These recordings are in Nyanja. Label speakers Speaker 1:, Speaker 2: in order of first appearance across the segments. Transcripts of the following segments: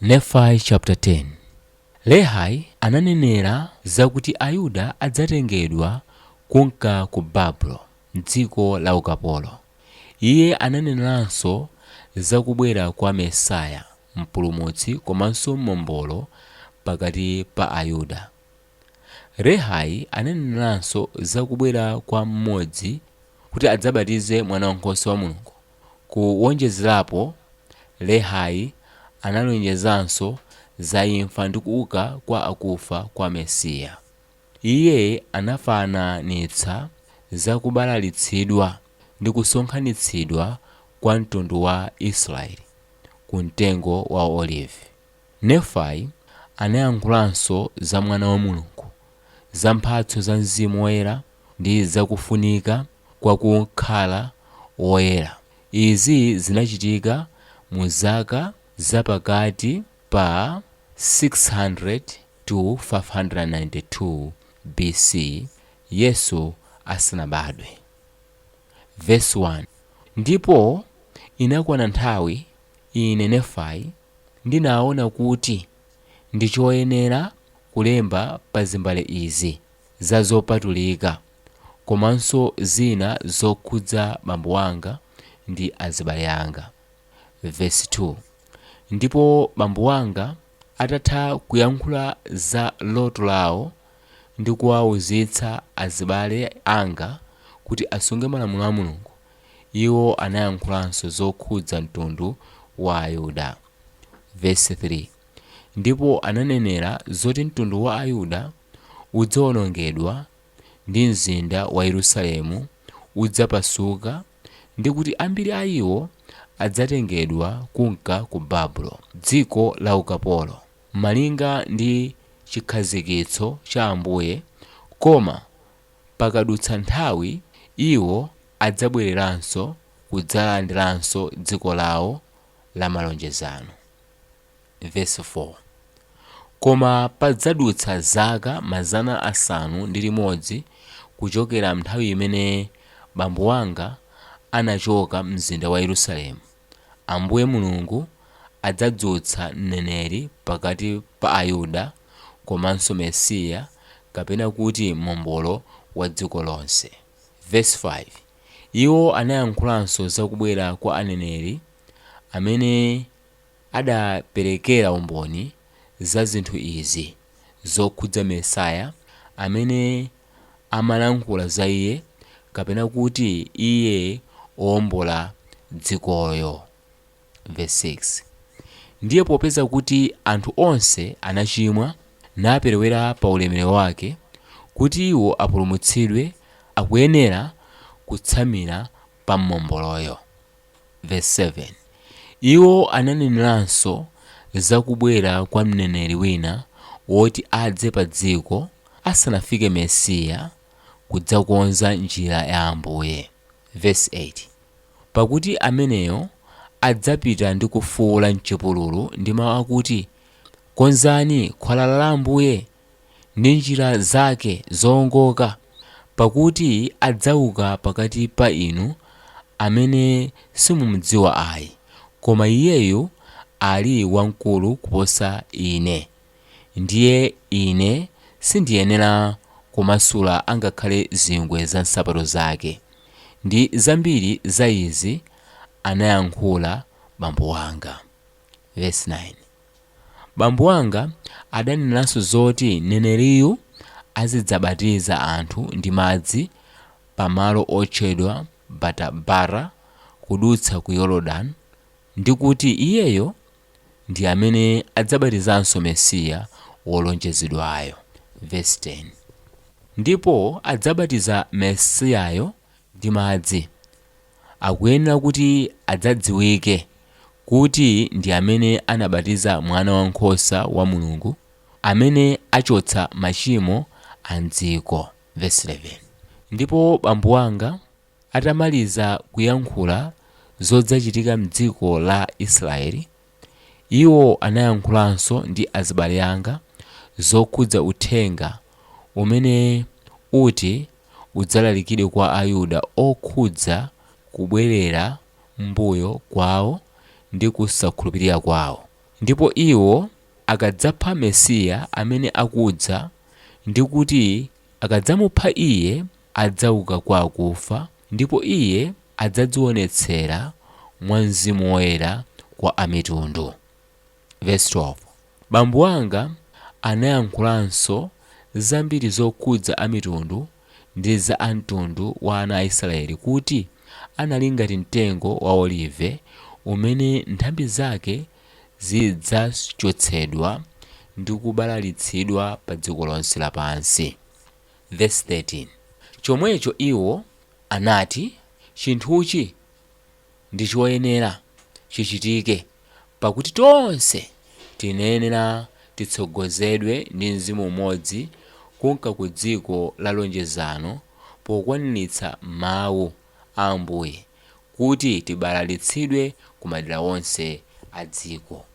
Speaker 1: Nefai chaputala 10 Lehi ananenera zakuti Ayuda adzatengedwa kumka ku Babulo dziko la ukapolo. Iye ananeneranso za kubwera kwa Mesiya, Mpulumutsi komanso Mombolo pakati pa Ayuda. Lehi ananeneranso za kubwera kwa M'modzi kuti adzabatize Mwanawankhosa wa Mulungu. Kuwonjezerapo, Lehi analonjezanso za imfa ndi kuuka kwa akufa kwa Mesiya. Iye anafananitsa za kubalalitsidwa ndi kusonkhanitsidwa kwa mtundu wa Israeli ku mtengo wa olivi. Nefai anayankhulanso za Mwana wa Mulungu, za mphatso za Mzimu Woyera ndi za kufunika kwa kukhala woyera. Izi zinachitika mu zaka za pakati pa 600-592 BC Yesu asanabadwe. Vesi 1, Ndipo inakwana nthawi Ine, Nefai, ndinaona kuti ndi choyenera kulemba pa zimbale izi za zopatulika komanso zina zokhudza bambo wanga ndi azibale anga. Vesi 2, Ndipo bambo wanga atatha kuyankhula za loto lawo ndi kuwauzitsa azibale anga kuti asunge malamulo a Mulungu, Iwo anayankhulanso zokhudza mtundu wa Ayuda. Vesi 3, Ndipo ananenera zoti mtundu wa Ayuda udzawonongedwa ndi mzinda wa Yerusalemu udzapasuka ndi kuti ambiri a iwo adzatengedwa kumka ku Babulo, dziko la ukapolo, malinga ndi chikhazikitso cha Ambuye, koma Pakadutsa nthawi, iwo adzabwereranso kudzalandiranso dziko lawo la malonjezano. Vesi 4, Koma padzadutsa zaka mazana asanu ndi limodzi kuchokera m'nthawi imene bambo wanga anachoka m'mzinda wa Yerusalemu. Ambuye Mulungu adzadzutsa mneneri pakati pa Ayuda komanso Mesiya kapena kuti Mombolo wa dziko lonse. Vesi 5, Iwo anayankhulanso za kubwera kwa aneneri amene adaperekera umboni za zinthu izi zokhudza Mesiya amene. amalankhula za iye kapena kuti iye owombola dzikoyo. Vesi 6, Ndiye popeza kuti anthu onse anachimwa, naperewera pa ulemerero wake, kuti iwo apulumutsidwe akuyenera kutsamira pa Mombolowo. Vesi 7, Iwo ananeneranso za kubwera kwa mneneri wina woti adze padziko asanafike Mesiya kudzakonza njira ya Ambuye. Vesi 8, Pakuti ameneyo adzapita ndi kufuula m'chipululu ndi mau akuti, Konzani khwalala la Ambuye! ndi njira zake zoongoka, pakuti adzauka pakati pa inu amene simumdziwa ayi, koma iyeyu ali wamkulu kuposa ine, ndiye ine sindiyenera kumasula angakhale zingwe za nsapato zake. Ndi zambiri za izi anayankhula bambo wanga. Vesi 9, Bambo wanga adaneneranso zoti mneneriyu azidzabatiza anthu ndi madzi pa malo otchedwa Batabara kudutsa ku Yorodani ndi kuti iyeyo ndi amene adzabatizanso Mesiya wolonjezedwayo. Vesi 10, Ndipo adzabatiza Mesiyayo ndi madzi, akuyenera kuti adzadziwike kuti ndi amene anabatiza Mwanawankhosa wa Mulungu amene achotsa machimo a m'dziko. Vesi 11, Ndipo bambo wanga atamaliza kuyankhula zodzachitika m'dziko la Israeli, Iwo anayankhulanso ndi azibale anga zokhudza uthenga umene uti udzalalikidwe kwa Ayuda okhudza kubwerera m'mbuyo kwawo ndi kusakhulupirira kwawo, ndipo iwo akadzapha Mesiya amene akudza, ndi kuti Akadzamupha Iye, adzauka kwa akufa, ndipo Iye adzadziwonetsera mwa Mzimu Woyera kwa Amitundu. Vesi 12, Bambo anga anayankhulanso zambiri zokhudza Amitundu ndi za a mtundu wa ana a Israeli kuti anali ngati mtengo wa olive umene nthambi zake zidzachotsedwa ndi kubalalitsidwa pa dziko lonse lapansi. Vesi 13, Chomwecho iwo anati, Chinthuchi ndi choyenera chichitike, pakuti tonse tinayenera titsogozedwe ndi Mzimu umodzi kunka ku dziko la lonjezano pokwaniritsa Mawu. a Ambuye kuti tibalalitsidwe ku madera onse a dziko.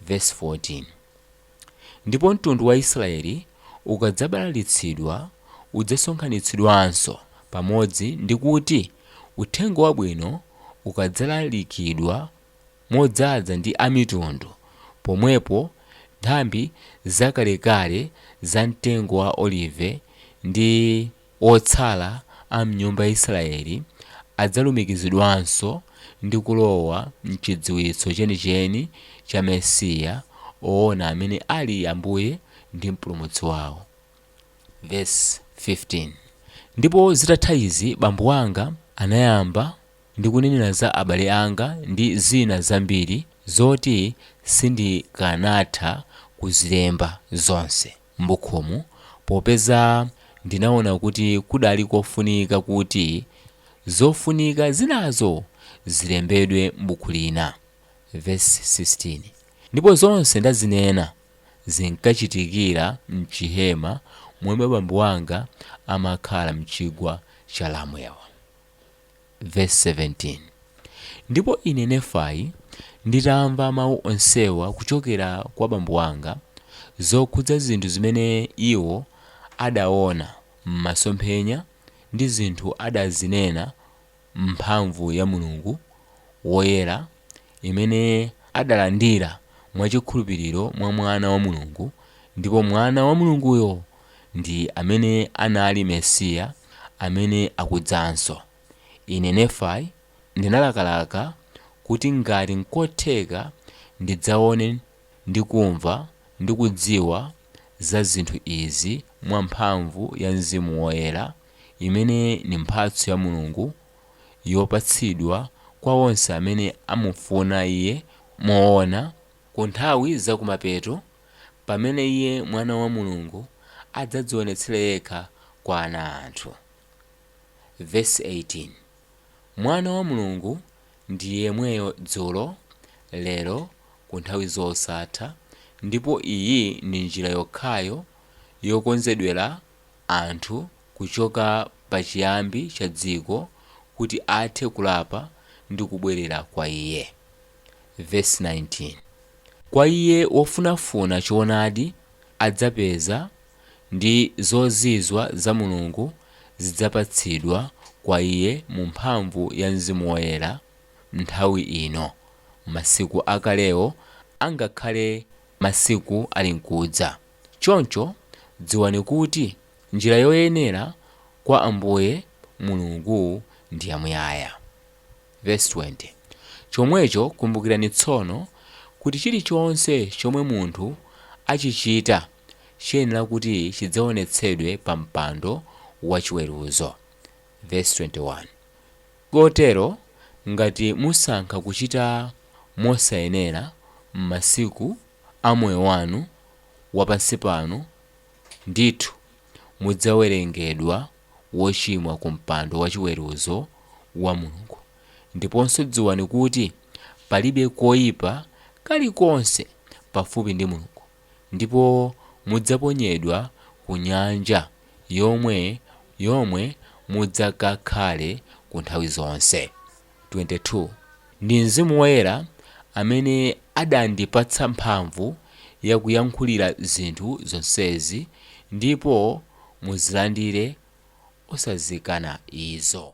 Speaker 1: Vesi 14, Ndipo mtundu wa Israeli ukadzabalalitsidwa udzasonkhanitsidwanso pamodzi ndi kuti Uthenga Wabwino ukadzalalikidwa modzaza ndi Amitundu, pomwepo nthambi zakalekale za mtengo wa olive ndi. Otsala a m'nyumba ya Isiraeli adzalumikizidwanso ndi kulowa m'chidziwitso chenicheni cha Mesiya woona amene ali Ambuye ndi Mpulumutsi wawo. Vesi 15, Ndipo zitatha izi bambo anga anayamba ndi kunenera za abale anga ndi zina zambiri zoti sindikanatha kuzilemba zonse. m'bukhumu popeza ndinaona kuti kudali kofunika kuti zofunika zinazo zilembedwe m'buku lina, vesi 16, ndipo zonse ndazinena zinkachitikira m'chihema momwe abambo anga amakhala m'chigwa cha Lamwewa. Vesi 17, Ndipo ine Nefai, nditamva mawu onsewa kuchokera kwa bambo anga, zokhudza zinthu zimene iwo adawona m'masomphenya, ndi zinthu adazinena m'mphamvu ya Mulungu woyera, imene adalandira mwa chikhulupiriro mwa Mwana wa Mulungu, ndipo Mwana wa Mulunguyo ndi amene anali Mesiya amene akudzanso. Ine, Nefai, ndinalakalaka kuti ngati nkotheka ndidzaone ndi kumva ndi kudziwa za zinthu izi mwa mphamvu ya Mzimu Woyera, imene ndi mphatso ya Mulungu, yopatsidwa kwa onse amene amufuna Iye moona, ku nthawi za kumapeto, pamene Iye Mwana wa Mulungu adzadzionetsere Yekha kwa ana a anthu. Vesi 18. Mwana wa Mulungu ndi yemweyo dzulo, lero, ku nthawi zosatha, ndipo iyi ndi njira yokhayo yokonzedwera anthu kuchoka pa chiyambi cha dziko kuti athe kulapa ndi kubwerera kwa Iye. Verse 19, Kwa iye wofunafuna choonadi adzapeza, ndi zozizwa za Mulungu zidzapatsidwa kwa iye mu mphamvu ya Mzimu Woyera m'nthawi ino, masiku akalewo angakhale masiku alinkudza. Choncho dziwani kuti njira yoyenera kwa Ambuye Mulungu ndi yamuyaya. Verse 20, Chomwecho kumbukirani tsono, kuti chilichonse chomwe munthu achichita chiyenera kuti chidzaonetsedwe pa mpando wa chiweruzo. Verse 21, Kotero, ngati musankha kuchita mosayenera m'masiku a moyo wanu wapansi pano, ndithu mudzawerengedwa wochimwa ku mpando wachiweruzo wa Mulungu, ndiponso dziwani kuti palibe koipa kalikonse pafupi ndi Mulungu, ndipo mudzaponyedwa ku nyanja yomwe yomwe mudzakakhale ku nthawi zonse. 22 ndi Mzimu Woyera amene adandipatsa mphamvu yakuyankhulira zinthu zonsezi, ndipo muzilandire osazikana izo.